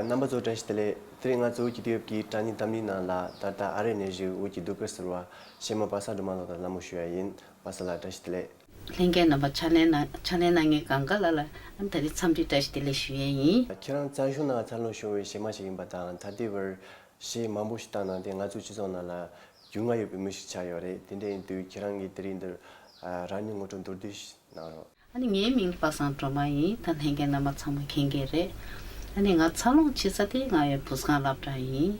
རྣམ་པ་ཚོ་བཀྲ་ཤིས་བདེ་ལེགས། དེ་རིང་ང་ཚོ་འུ་གྱི་ཏོཡོབ་ཀྱི་དྲ་གཉིས་གཏམ་གླིང་ནང་ལ་ད་ལྟ་ཨ་རེ་ནས་བཞུགས་འུ་གྱི་སྡུག་སྐར་ཟེར་བ་གཞས་མ་པ་ས་སྒྲོལ་མ་ལགས་དང་ལ་མོ་ཞུ་ཡ་ཡིན་པ་ས་ལགས་བཀྲ་ཤིས་བདེ་ལེགས། ལྷན་རྒྱས་རྣམ་པ་ཕྱག་ལེན་ཕྱག་ལེན་གནང་མཁན་གང་ག་ལ་ལ་ད་རིང་འཚམས་འདྲི་བཀྲ་ཤིས་བདེ་ལེགས་ཞུ་ཡས་ཡིན། ཁྱེད་རང་རྩ་གཞུང་ནང་འཚར་ལོངས་བྱུང་བའི་གཞས་མ་ཞིག་ཡིན་པ་དང་ད་ལྟའི་བར་གཞས་མང་པོ་ཞིག་བཏང་གནང་སྟེ་ང་ཚོའི་སྤྱི་ཚོགས་ནང་ལ་རྒྱུས་མངའ་ཡོད་པའི་མི་ཞིག་ཆགས་ཡོད་རེད་དེ་འདྲ་ཡིན་དུས་ཁྱེད་རང་གིས་དེ་རིང་འདིར་རང་ཉིད་ངོ་སྤྲོད་མདོར་བསྡུས་ཤིག་གནང་རོགས། ཨ་ནི་ངའི་མིང་པ་སངས་སྒྲོལ་མ་ཡིན་ད་ལྷན་རྒྱས་རྣམ་པ་ཚང་མ་མཁྱེན་གྱི་རེད། ཨ་ནི་ང་འཚར་ལོངས་ཕྱི་ས་ཏེ་ང་ཡོད་འབུ་སྒང་བླ་བྲག་ཡིན།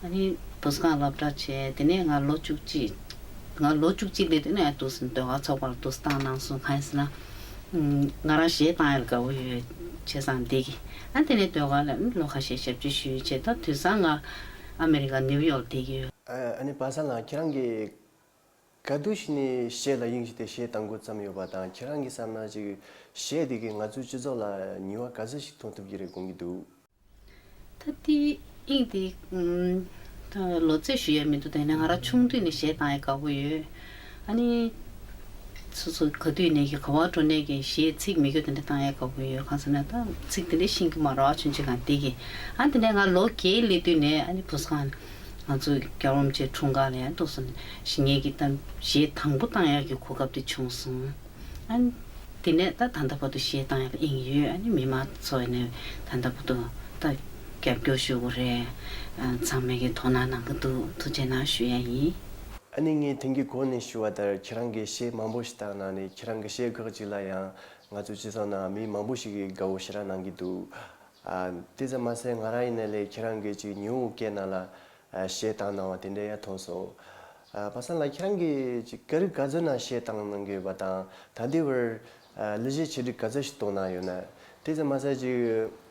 ཨ་ནི་འབུ་སྒང་བླ་བྲག་བྱས་དེ་ནས་ང་ལོ་བཅུ་གཅིག། ང་ལོ་བཅུ་གཅིག་ལས་དེ་ནས་དུས་སུ་འདོད་ག་ཚོགས་པར་བསྡུ་སྟངས་གནང་སོང་གང་ཡིན་ཟེར་ན། ང་རང་གཞས་བཏང་ཡར་དགའ་བོ་ཡོད་བྱས་སང་འདེགས། ཨ་དེ་ནས་འདོད་ག་ལ་ལོ་ཁ་ཤས་ཞབས་ཕྱི་ཞུས་བྱས་ད་དུས་སང་ང། ཨ་མེ་རི་ཀ་ནིའུ་ཡོག་བསྡད་ཀྱི་ཡོད། ཨ་ནེ་པ་སངས་ལགས་ཁྱེད་རང་གིས་ག་དུས་ཞིག་ནས་གཞས་ལ་དབྱིངས་ཞིག་དེ་གཞས་བཏང་འགོ་བརྩམས་ཡོད་པ་དང་ཁྱེད་རང་གིས་བསམ་ན་ཅིག་གཞས་དེ་གིས་ང་ཚོའི་སྤྱི་ཚོགས་ལ་ཉུལ་བ་ག་ཚོད་ཞིག་མཐོང་ཐུབ་ཀྱི་རེད་དགོངས་ཀྱི་འདུག། ད་ལྟའི་དབྱིངས་དེ། ལོ་ཚད་ཞུ་ཡས་མི་འདུག་དེ་ནས་ང་རང་ཆུང་དུས་ནས་གཞས་བཏང་ཡས་དགའ་བོ་ཡོད། ཨ་ནི། སོ་སོ་ག་དུས་ནས་ཀྱི་ག་བ་འགྲོ་ནས་ཀྱི་ཞེས་ཚིག་མི་དགོས་དེ་འདྲ་བཏང་ཡ་ག་བུ་ཡོད་གང་ཟེར་ན་ད་ཚིག་དེ་འདྲ་ཤིང་གི་མ་རོ་ཨ་ཆུན་ཆེ་གང་དེ་ཀྱི་ཨ་དེ་འདྲ་ང་ལོ་བརྒྱད་སླེབས་དུས་ནས་ཨ་ནི་བུ་ས་གང་ང་ཚོ་རྒྱ་རོམ་ཆེ་འཁྲུངས་སྐར་ལ་ཡང་ཏུ་སོ་ཞེས་ངས་ཀྱི་ད་ཞེས་དང་པོ་བཏང་ཡ་ཀྱི་གོ་སྐབས་དེ་བྱུང་སོང་ཨ་ནི། དེ་ནས་ད་ད་ལྟ་བར་དུ་ཞེས་བཏང་ཡ་ཀི་ཨིན་ཡོད་ཨ་ནི་མི་མང་ཚོ་ནས་ད་ལྟ་བར་དུ་ད་རྒྱབ་སྐྱོར་ཞུ་དགོས་རེད་ཚང་མས་ཀྱི་དོ་སྣང་གནང་གི་འདུག་ཐུགས་རྗེ་གནང་ཞུ་ཡ་ཡིན། ཨ་ནེ་ངས་དེང་གི་གོ་ནས་ཞུ་བ་ལྟར་ཁྱེད་རང་གི་གཞས་མང་པོ་ཞིག་བཏགས་གནང་ནས་ཁྱེད་རང་གི་གཞས་འགག་ཅིག་ལ་ཡང་ང་ཚོ་སྤྱི་ཚོགས་ནང་མི་མང་པོ་ཞིག་གིས་དགའ་བོ་ཞེ་དྲག་གནང་གི་འདུག་ཨ། དེ་ཙམ་མ་ཟད་ང་རང་ཡིན་ན་ལས་ཁྱེད་རང་གི་གཅིག་ཉིའུ་ཨུ་ཀེ་ན་ལ་གཞས་བཏགས་གནང་བ་དེ་འདྲ་ཡ་མཐོང་སོང། ཨ་པ་སང་ལ་ཁྱེད་རང་གི་གཅིག་ཀ་རི་ག་ཛོ་ན་གཞས་བཏགས་གནང་གི་ཡོད་པ་དང་ད་ལྟའི་བར་ཨ་གླུ་གཞས་ཆེ་བསྒྲིགས་ག་ཚོད་ཞིག་གཏོང་གནང་ཡོད་ན། དེ་ཙམ་མ་ཟད་གཅིག།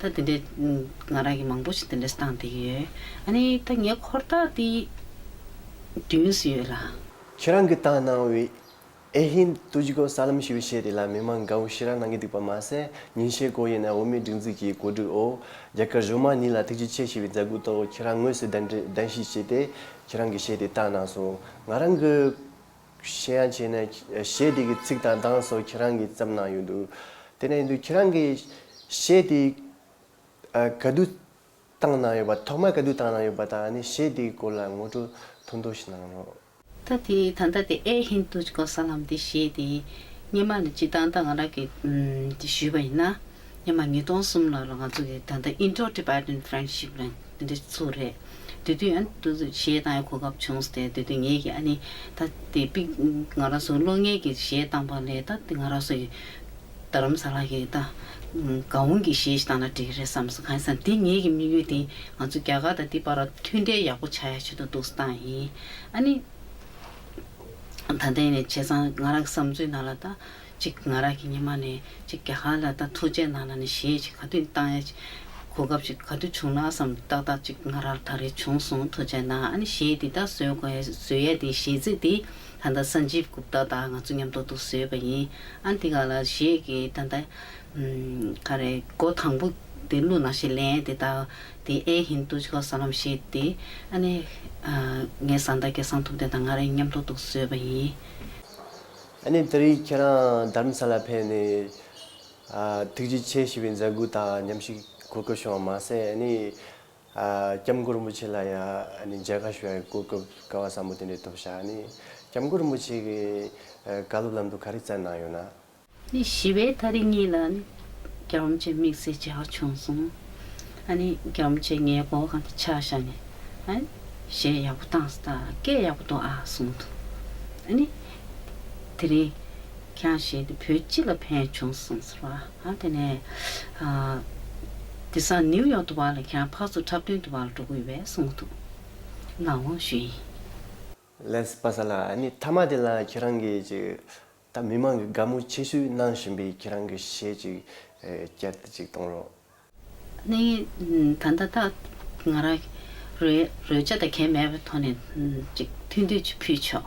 ད་དེ་འདྲས་ང་རང་གིས་མང་པོ་ཞིག་དེ་འདྲས་བཏང་བསྡད་ཀྱི་ཡོད། ཨ་ནི་ད་ངའི་འཁོར་དག་དེ་བདུན་སུ་ཡོད་ལ། ཁྱེད་རང་གིས་བཏང་གནང་བའི་ཨེ་ཧིན་ཏུ་ཇི་གོ་ས་ལམ་ཞེས་པའི་གཞས་དེ་ལ་མི་མང་དགའ་བོ་ཞེ་དྲག་གནང་གི་འདུག་པ་མ་ཟད་ཉིན་ཤས་གོ་ཡིན་ན་འོ་མའི་སྒྲིག་འཛུགས་ཀྱི་གོ་སྒྲིག་འོག་རྒྱ་གར་གཞུང་མང་གཉིས་ལ་ཐུགས་རྗེ་ཆེ་ཞེས་པའི་མཛད་སྒོའི་ཐོག་ཁྱེད་རང་དངོས་སུ་གདན་འདྲེན་གདན་ཞུ་བྱས་ཏེ་ཁྱེད་རང་གི་གཞས་དེ་བཏང་གནང་སོང་ང་རང་གི། གཞན་ཡང་བྱས་ནས་གཞས་དེ་གི་ཚིག་དང་གདངས་སོགས་ཁྱེད་རང་གིས་བརྩམས་གནང་ཡོད་འདུག་དེ་ནས་འདུག་ཁྱེད་རང་གི་གཞས་དེ་ག་དུས་བཏང་གནང་ཡོད་པ་ཐོག་མར་ག་དུས་བཏང་གནང་ཡོད་པ་དང་གཞས་དེ་གི་སྐོར་ལ་ངོ་སྤྲོད་ཐུང་ཐུང་ཞིག་གནང་རོགས། ད་དེ་ད་ལྟ་དེ་ཨེ་ཧིན་དུ་ཅི་ཀོ་ས་ལམ་དེ་གཞས་དེ་སྙེ་མ་ལ་སྤྱི་བཏང་ད་ང་རང་གིས་ཞུས་པ་ཡིན་ན། ཉི་མ་ཉིས་སྟོང་གསུམ་ལོར་ལ་ང་ཚོ་གི་ད་ལྟ Indo Tibetan Friendship ལ་འདི་འདྲའི་ཚུགས་རེད། དེ་དུས་ཨ་ཏུ་ཏུ་གཞས་གཏང་ཡའི་གོ་སྐབས་བྱུང་སྟེ་དེ་དུས་ངེད་ཀྱི་ཨ་ནེ་ད་དེ་པི་ང་ར་སོ་ལོ་ངེད་ཀྱི་གཞས་གཏང་པ་ལས་ད་དེ་ང་ར་སོ་ཡི་རྡ་རམ་ས་ལ་གི་ད་ག་འུང་གི་གཞས་ཞིག་གཏང་ན་འགྲིག་རེད་བསམས་སོ་གང་ཡིན་ས་དེ་ངེད་ཀྱི་དམིགས་ཡུལ་དེ་ང་ཚོ་རྒྱ་གར་དང་དེ་བར་མཐུན་འབྲེལ་ཡག་པོ་བྱ་ཡ་བྱེད་དུ་འདུག་ས་གཏང་ཡིན་ཨ་ནེ། ད་ལྟ་ཡིན་ནས་བྱས་ཙང་ང་རང་གི་བསམ་ཚུལ་ནང་ལ་ད། གཅིག་ང་རག་གི་ཉི་མ་ནས་གཅིག་རྒྱ་གར་ལ་ད་ཐུགས་རྗེ་ནང་ལ་ནས་ཞེས་གཅིག་ག་དུས་བཏང་ཡ་གཅིག་གོ་སྐབས་གཅིག་ག་དུས་བྱུང་ན་བསམ་ཏག་ཏག་གཅིག་ང་རག་ད་རེ་བྱུང་སོང་ཐུགས་རྗེ་ནང་ཨ་ནི་ཞེས་འདི་ལྟར་བཟོས་དགོས་བཟོས་ཡ་དེའི་གཞས་ཚིག་དེ་ད་ལྟ་སཱན་ཇིབ་གུབ་ཏཱ་དང་ང་ཚོ་མཉམ་ཐོག་ཏུ་བཟོས་པ་ཡིན་ཨ་འདི་ག་ལ་གཞས་ཀྱི་ད་ལྟ་ག་རེ་སྒོ་དང་པོ་དེ་གླུ་ནང་ཞེས་ལན་དེ་དག་དེ་ཨེ་ཧིན་དུ་ཇི་ཀོ་ས་ལམ་ཞེས་དེ་ཨ་ནི་ངའི་བཟའ་ཟླ་སྐལ་བཟང་ཐུབ་བསྟན་དང་ང་རེ་མཉམ་ཐོག་ཏུ་བཟོས་པ་ཡིན། ཨ་ནི་ད་རེས་ཁྱེད་རང་དྷརྨ་ས་ལར་ཕེབས་ནས། ཐུགས་རྗེ་ཆེ་ཞེས་པའི་མཛད་སྒོ་དང་མཉམ་ཞིག་གོ་སྐབས་བྱུང་བ་མ་ཟད་ཨ་ནི། སྐྱབས་མགོན་རིན་པོ་ཆེ་ལ་ཡང་མཇལ་ཁ་ཞུ་བའི་གོ་སྐབས་དཀའ་བ་ཟབ་མོ་དེ་འདྲ་ཐོབ་ཤག་ཨ་ནི། སྐྱབས་མགོན་རིན་པོ་ཆེ་གི་བཀའ་སློབ་ལམ་དུ་ག་རེ་བསྩལ་གནང་ཡོད་ན། ནི་ཞི་བའི་མཐའ་རིས་གཉིས་ལ་ཨ་ནི། རྒྱ་རོམ་ཅན་དམིགས་བསལ་བྱ་བ་བྱུང་སོང། ཨ་ནི་རྒྱ་མོ་ཆེ་ངའི་སྒོ་ཁང་དུ་ཕྱག་བཞག་ནས། ཨ་ནི། ཞེས་ཡག་པོ་བཏང་སྟ་སྐད་ཡག་པོ་འདུག་ཨ་གསུངས་འདུག་ཨ་ནི། དེ་རིང། ཁྱང་བཞེས་ཏེ་བོད་སྤྱི་ལ་ཕན་བྱུང་གསུངས་ཟེར་བ་ཨ་དེ་ནས། དེ་སང་ནིའུ་ཡོག་ཏུ་བ་ལ་ཁྱང་ཕག་ཚུགས་འཁྲབ་སྟོན་དུ་བ་ལ་འགྲོ་གི་ཡོད་པས་གསུངས་འདུག་ལ་དབང་ཞུས་ཡིན། ལན་སྤ་ས་ལ་ཨ་ནི་ཐ་མ་དེ་ལ་ཁྱེད་རང་གིས་ཅིག། ད་མི་མང་གི་དགའ་མོས་ཆེ་ཤོས་གནང་བཞིན་པའི་ཁྱེད་རང་གི་གཞས་ཅིག་བསྐྱལ་ཏེ་ཅིག་གཏོང་རོགས། གནས་ངེས་ད་ལྟ་ད་ང་རང་རོལ་ཆ་དང་གད་མེད་པའི་ཐོག་ནས་ཅིག་ཐུགས་འདོད་ཅིག་ཕུལ་ཆོག།